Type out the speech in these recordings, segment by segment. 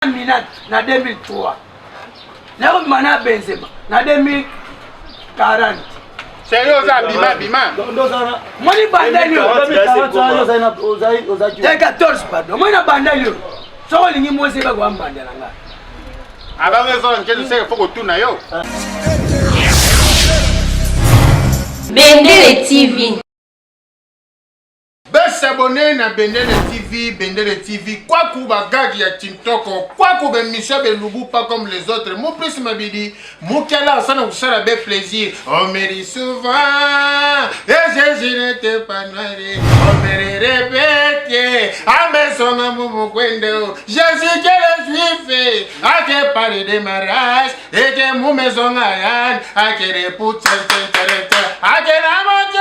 Minat na 2003 nakobima na Benzema na 2040 Sérieux oza bima bima moni bandeli yo 14 pardon moni na bandeli yo soki olingi mwasi ebaka wambanda na ngai abanga ezola nkeli seke fo kotuna yo bendele tv Ba s'abonner na Bendele TV, Bendele TV, kwaku ba gag ya Tintoko, kwaku ba emission be lubu pas comme les autres. Mon plus mabidi, mukela sana kusala be plaisir. On me dit souvent, et Jésus n'était pas noir. On me le répète, à mes sons à mon kwendo. Jésus que le juif, a que parler de mariage, et que mon maison à yann, a que les poutres, a que la moitié.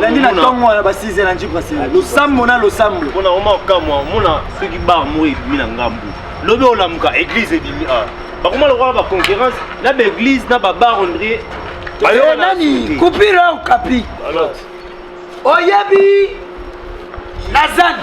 landi na ntongo wana ba 6 na nji brasserie losambo na losambo mpona oma okamwa omona soki bar moko ebimi na ngambu lobi olamuka église ebimi a bakoma lokola baconcurrence na baeglise na babar ondrie nani kupire okapi oyebi nazani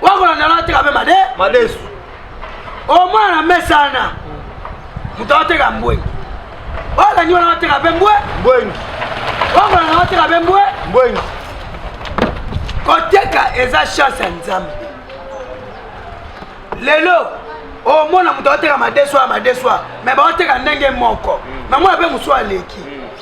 wakolanda nateka mpe made madesu omwana na mesana moto ateka mbwengi olandi wana ateka mpe mbwe mbwengi wakolanda ateka mpe mbwe mbwengi koteka eza chance ya nzambe lelo omona moto ateka madeswa madeswa me baoteka ndenge moko namona mpe mosu aleki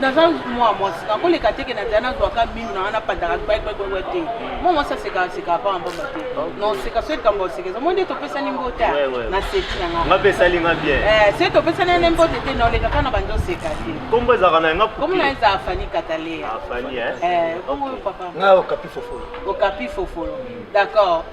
naza mwa mwasi nakoleka teke na nzela nazwaka minu na wana pandaka gbagbagba te mwa mwasi asekaka sekaka mpamba mpamba te noseka so likambo oseka eza moni topesani mbota na seki na ngapesali nga bien eh, se topesani ene mbote te noleka kaka na bandi oseka te kombo ezalaka na yanga kombo na eza afani kataleya ah, eh? eh, nga okapi fofolo okapi fofolo d'accord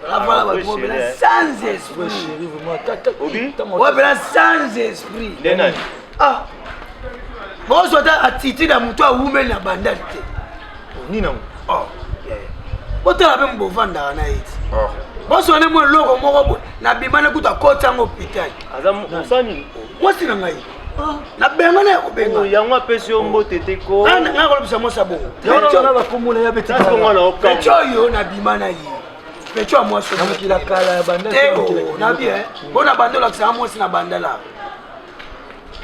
Voilà, ouais, ouais, ouais, sans esprit. Ouais, voilà, sans esprit. Ah. Bonsoir, ta attitude à mon toit, ou même la bandale. Ni non. Oh. Botala mpe mobovandaka na ye ti oh. bonso ne mwa eloko moko boye nabima na kutu akoti yango hôpital mwasi na ngai Ah, na benga na ya kobenga oh, yango apesi yo mbote te ko ah, nga kolobisa mosa bongo bakomola ya beteco oyo nabima na ye peco ya mwasi mokila kala ya bandate oh, na bien eh. mpo na banda olakisaka mwasi na bandala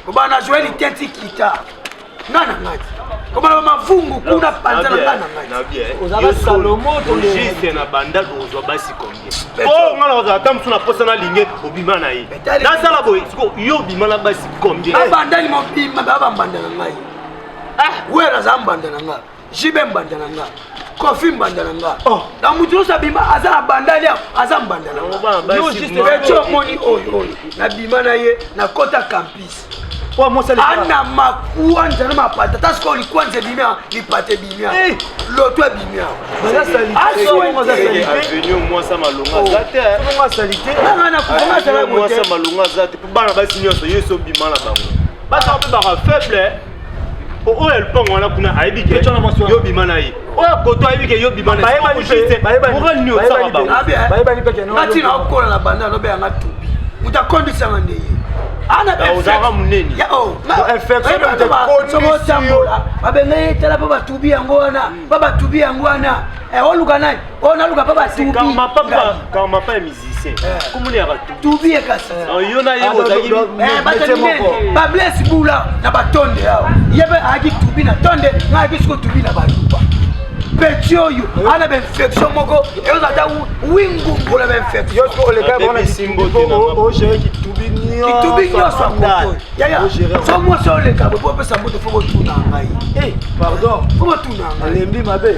kobana joeli teti kita nga na ngai komana mavungu kuna panza na nga na ngai ozala salomo juste na banda kozwa basi combien o oh, nga na kozala ata mosu na posa nalinge obima na ye nasala boye siko yo obima na basi combien abandani mobima baa bambanda na ngai ah. wera aza mbanda na ngai jibe mbanda na nga kofi mbanda na nga oh. na moto nyonso abima aza na banda lia aza mbanda na ngaeco oh, omoni oyo oyo nabima na ye nakota campus ana makuanja na mapata ta sikoyo likuanja ebimia lipata ebimia eh. loto ebimia bana basi nyonso yesu obima na bango baza mpe baka faible oyo lupango wana kuna ayebi ke yo bima na ye oyo koto ayebi ke yo bima na yemoral nini osaka bangongati na okola na banda alobe yanga tubi moto akondisanga nde ye ozalaka monene babenga ye tala mpo batubi yango wana mpo batubi yango wana oluka nani oyo naluka pa batubikamapa ya musicien komona ya batubi ye kasi yo na ye bablesi bula na batonde awa ye mpe ayaki tubi na tonde nga ayaki siko tubi na baluba peti oyo ana bainfection moko eyoza ata wingungu na bainfectionkitubi nyonso so mwasi oleka bopo opesa moto fo botuna ngai fo botuna ngai lembi mabe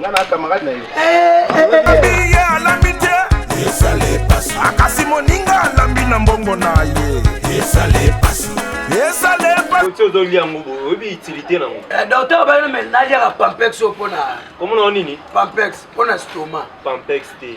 nga na camarade na yo ye alambi te akasi moninga alambi na mbongo na ye esale pasi esale pasi ozoli yango oyebi utilité na yango eh, docteur bayino me naliaka pampex oyo mpona komona o nini pampex mpona stoma pampex te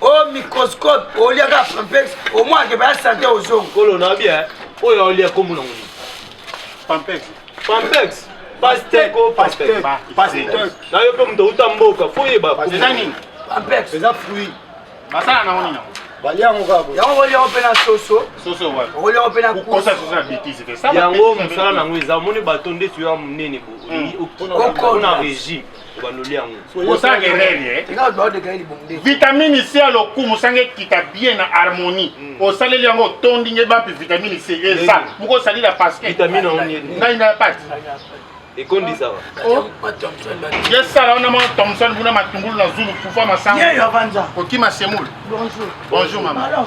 o oh, microscope oliaka pampex omoi akeba ya sante ozongo kolo na bia eh. oyo olia kombo nango nini pampex pampex pasteko pasteko na yo mpe moto outa mboka fo oyeba eza nini pampex eza fruit basala nango nini yango boliango mpe na soso okoliango mpe nayango mosala nango eza omoni bato nde tuya monene okona régime obandoli yango oza gerere eh? vitamine c ya lokumu sanga ekita bien na harmonie hmm. osaleli yango otondi nge bapi vitamine c eza moko osalila paskengai na pati ekondisaka oh. yesala wana mwa thomson kuna matungulu na zulu kufa masango kokima semoule bonjour mama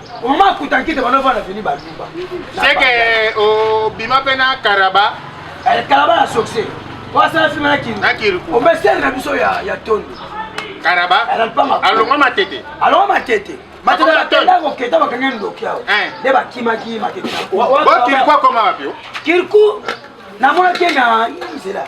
Maman Kutankite bana vana vini ba luba. C'est que au bima pena Karaba. Elle eh, Karaba la succès. Wa sa film na kin. Na kin. O mesel na biso ya ya tondo. Karaba. Elle pas ma. Alonga matete. Alonga matete. Matete la tenda ko keta ba kangen ndoki yao. Eh. De ba kima ki matete. Wa kirku koma wapi? Kirku na mona kena nzela.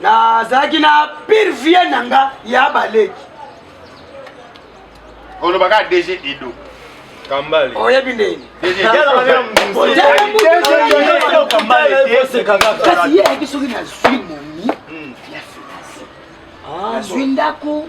nazalaki na pire vie na nga ya baleki olobaka dg edo kambale oyebi ndeni kasi ye ayaki soki nazwi momi ya finance nazwi ndako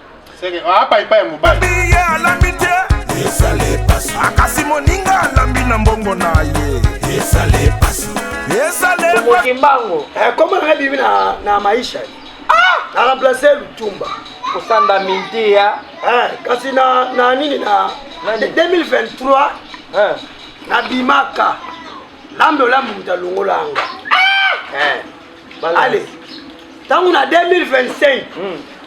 akasi moninga alambi na mbongo na ye ezaleokimbango ekoma eh, nanga bibi na maisha ah! na remplace lutumba kosanda mintiya eh, kasi na nini na 2023 eh. nabimaka lambe olambe moto alongola yanga ah! ale ntango na 2025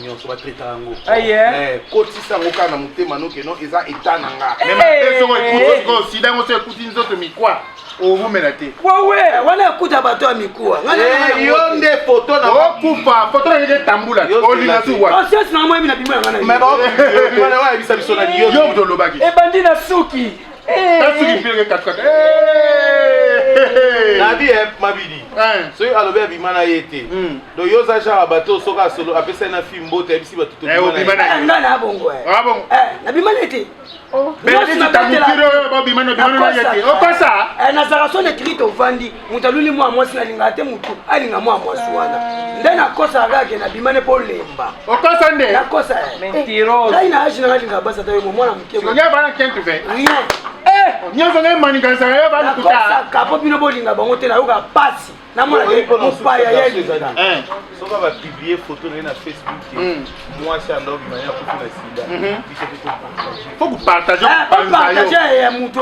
nyonso batraita yango eh, kotisa yango kaka na motema noke no eza eta na nga eh. soko ekuti sikoyo sida yango so ekuti nzoto mikwa owumela te wawe wana ekuta bato ya mikuwa eh, yo nde foto na okufa foto na nde tambula olinga su wa conscience na moi mina bimo ya ngana mais ba oyebisa biso na yo yo dolobaki ebandi na suki nasilipieke katikati nabi mabidi soki alobi abima na ye te hmm. do yo oza genre bato soki asolo apesai na fille mbote ayebisi bato tobima na ye te nazala soni etrite ovandi moto aluli mwa mwasi nalingaka te motu alinga mwa mwasi wana nde nakosaka kaka ke nabima ne mpo olemba okosa nde nakosa ngai na age nanga linga basi ata yo mwana moke rien nyonso ngai maniganisaka yo balukutaka mpo bino bolinga bango te nayokaka mpasi namona mopaya ya elinga soki ba publier photo na ye na facebook hmm. mwasi ya ndoki mani akufi na sida mhm. fo kopartage ah, kopanza ya moto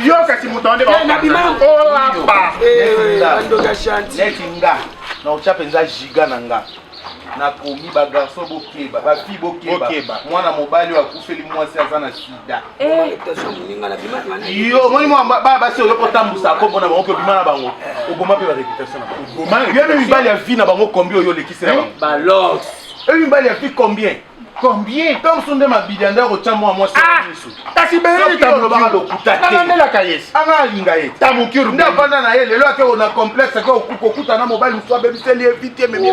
yo kasi moto wana ndeoapa neti nga na otya mpenza giga na nga nakomi bagarso bokeba bafille bokeba mwana mobali oyo akufeli mwasi aza na sida Eh. yo omoni bana basi oyoki otambusa kombo na bango mpe obima na bango oboma mpe bareputation na bango yo mpe mibali ya vie na bango kombi oyo olekisela eh? bango oyo mibali ya vie combien combien ntango mosusu nde mabilia nde akotya mwa mwasi ah! misu kasi beolobaka lokuta teanandelaka ye anga alinga ye tamukuru nde avanda na ye lelo ake ona complexe ake kokuta na mobali mosusu abebiseli ye vite ememi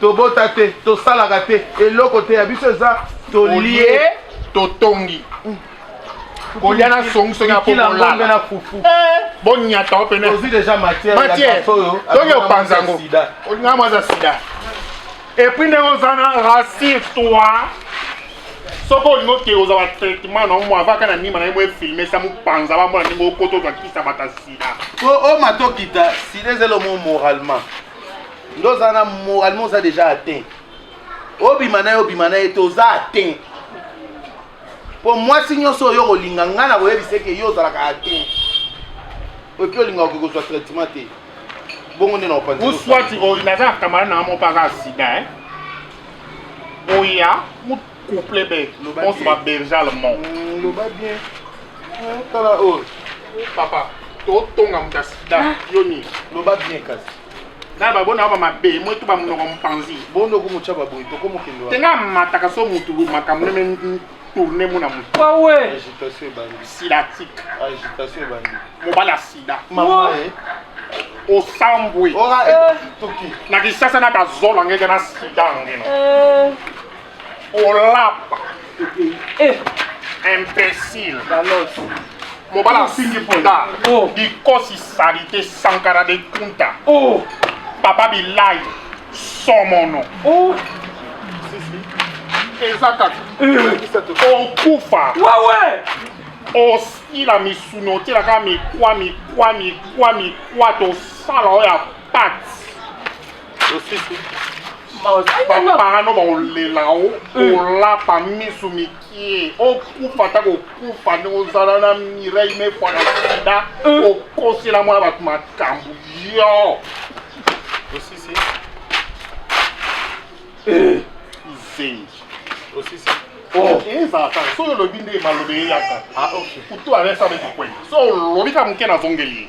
tobota te tosalaka te eloko te ya biso eza tolie totongi mm. kolia na songi soki akokolala na fufu eh, bonyata yo pene ozwi deja matière matière soki opanza yango olinga mwa aza sida epuis ndenge oza na rassure toi soki olingi okee ozwa batraitement na omo avaka na nima na ye moefilme sa mopanza bamona ndenge okota ozwa kisa bata sida o matokita sida ezali omo moralement Ndo oza na moralement oza deja atteint. Obima na yo obima na ye te oza atteint. Mpo mwasi nyonso oyo okolinga ngai na koyebisa eke yo ozalaka atteint. Oki olinga okoki kozwa traitement te. Bongo nde na opanzi. Uswati oyo naza kamara na mo paka sida hein. Oya mu couple be. On se va berger allemand. Mm, loba bien. Tala oyo. Papa. totonga moto ya sida ah. yo nini loba bien kasi na babona ba mabe mwetu bamonoko mpanzi bondo komotya baboyi toko mokende wa tenga mataka so motu makambo neme tourne mona motu wawe agitation ebandi sidatique agitation ebandi mobali ya sida mama eh. osambwe eh. na kisasa na bazola ngeke na sida ngena eh. olapa eh. imbécile mobala afingi mponda oh. dikosi salite sankara de kunta oh. papa bilai somono oh. eza kaka eh. okufa osila misuni otyela kaka mikwa mikwa mikwa mikwa tosala oyo ya pati parano bakolela o eh. olapa misu mikie okufa ata kokufa nde ozala na mireille mefana sida eh. okosela mwana bato makambo yo osisi eh. izengi osisi oh. ezala kaka soki olobi nde maloba eyaka ah, kutu aresala ekikwenda so olobi ka moke nazongeli ye